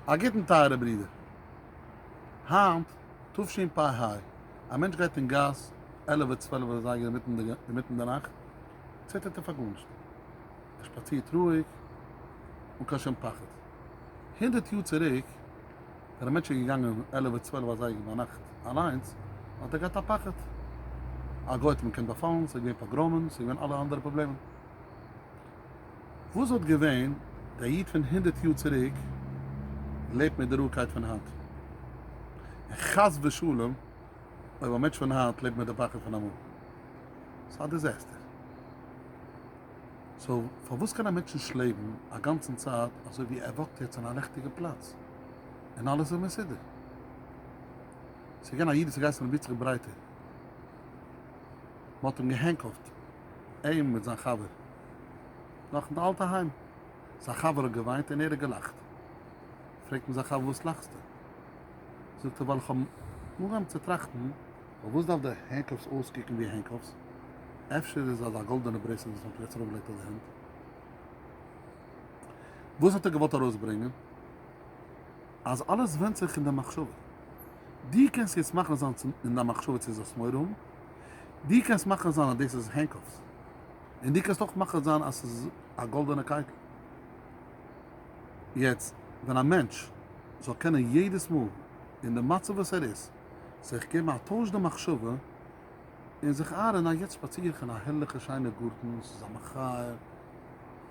א גוטן טייערע ברידער. היינט תשפ ה, א מענטש גייט אין גאס עלעווע צוועלעווע אזייגער אינמיטן די נאכט, ציטערט ער פאר גארנישט, ער שפאצירט רואיג אן קיין שום פחד. הונדערט יאר צוריק ווען א מענטש איז געגאנגען עלעווע צוועלעווע אזייגער ביינאכט אליינס, האט ער געהאט א פחד, א גוי האט אים געקענט באפאלן, ס'איז געווען פאגראמען, ס'איז געווען אלע אנדערע פראבלעמען. וואס וואלט געווען די איד פון הונדערט יאר צוריק לעבט מיט די ראקייט פון היינט, און חס ושלום אויב א מענטש פון היינט לעבט מיט די פחד פון אמאל. ס'איז א דיזעסטער. סאו פארוואס קען א מענטש נישט לעבן א גאנצן צייט אזוי ווי ער וואקט יעצט אין א ריכטיגע פלאץ און אלעס איז מסודר? ס'איז געווען א איד וואס איז געהייסן רבי יצחק ברייטער, מ'האט אים געהענקלט. אים מיט זיין חבר נאך אין די אלטע היים, זיין חבר האט געוויינט און ער האט געלאכט, פרעגט אים זיין חבר וואס לאכסטו? זאגט ער ווייל איך האב אנגעהויבן צו טראכטן, פארוואס דארף די הענקאפס אויסקוקן ווי הענקאפס, אפשר איז אזא גאלדענע ברעסלעט וואס מען פלעצט ארויף געלייגט אויף די הענט? וואס האט ער געוואלט ארויסברענגען? אז אלעס ווענדט זיך אין די מחשבה. דו קענסט יעצט מאכן זיין אין דיין מחשבה צו זאלסט מורא האבן, דו קענסט מאכן זיין אז דאס איז הענקאפס, און דו קענסט אויך מאכן זיין אז ס'איז א גאלדענע קייטל. יעצט, ווען א מענטש זאל קענען יעדעס מאל אין די מצב וואס ער איז, זיך געבן א טויש די מחשבה, און זיך אהרען א יעצט שפאציר איך אין א הערליכע שיינע גארטן, ס'איז א מחיה,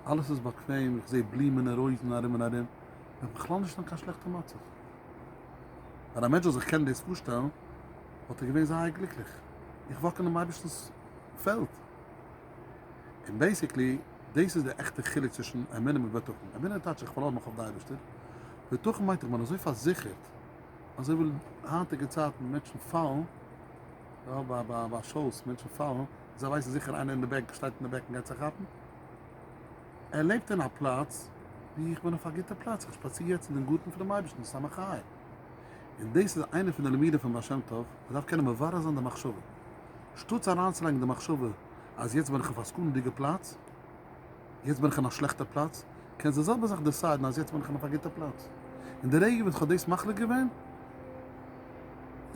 אלעס איז באקוועם, איך זעה בלומען און רויזן ארום און ארום, איז בכלל נישט אין קיין שלעכטע מצב. ווען א מענטש זאל זיך קענען דאס פארשטעלן, וואלט ער געווען זייער גליקליך. איך וואק אינעם אייבערשטנ'ס פעלד. און בעיסיקלי, דאס איז דער עכטער חילוק צווישן אמונה מיט בטחון. אמונה טייטש איך פארלאזן מיך אויף די אייבערשטער. בטחון מיינט איך בין אזוי פארזיכערט, אזוי ווי היינטיגע צייטן מענטשן פאלן, יא, ביי ביי ביי שאוס, מענטשן פאלן, זיי ווייסן זיכער איינער אין די בעק שטייט אין די בעק און גייט זיי כאפן. ער לעבט אין א פלאץ ווי איך בין אויף א גוטע פלאץ, איך שפאציר יעצט אין דעם גארטן פון דעם אייבערשטן מסמך חיים, און דאס איז איינע פון די לימודים פון בעל שם טוב, מען דארף קענען מברר זיין די מחשבה, שטאטס אריינצולייגן די מחשבה אז יעצט בין איך אויף א סכנה'דיגע פלאץ, יעצט בין איך אין א שלעכטע פלאץ, קענסט די זעלבע זאך דעסיידן אז יעצט בין איך אין אויף א גוטע פלאץ, און די רגע וואס איך האב דאס מחליט געווען,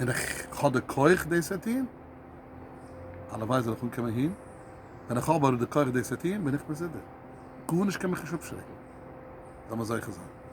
און איך האב די כח דאס צו טון. הלוואי זאל איך אנקומען אהין, ווען איך האב אבער די כח דאס צו טון בין איך מסודר, גארנישט קען מיך נישט אפשרעקן, לאמיר זוכה זיין.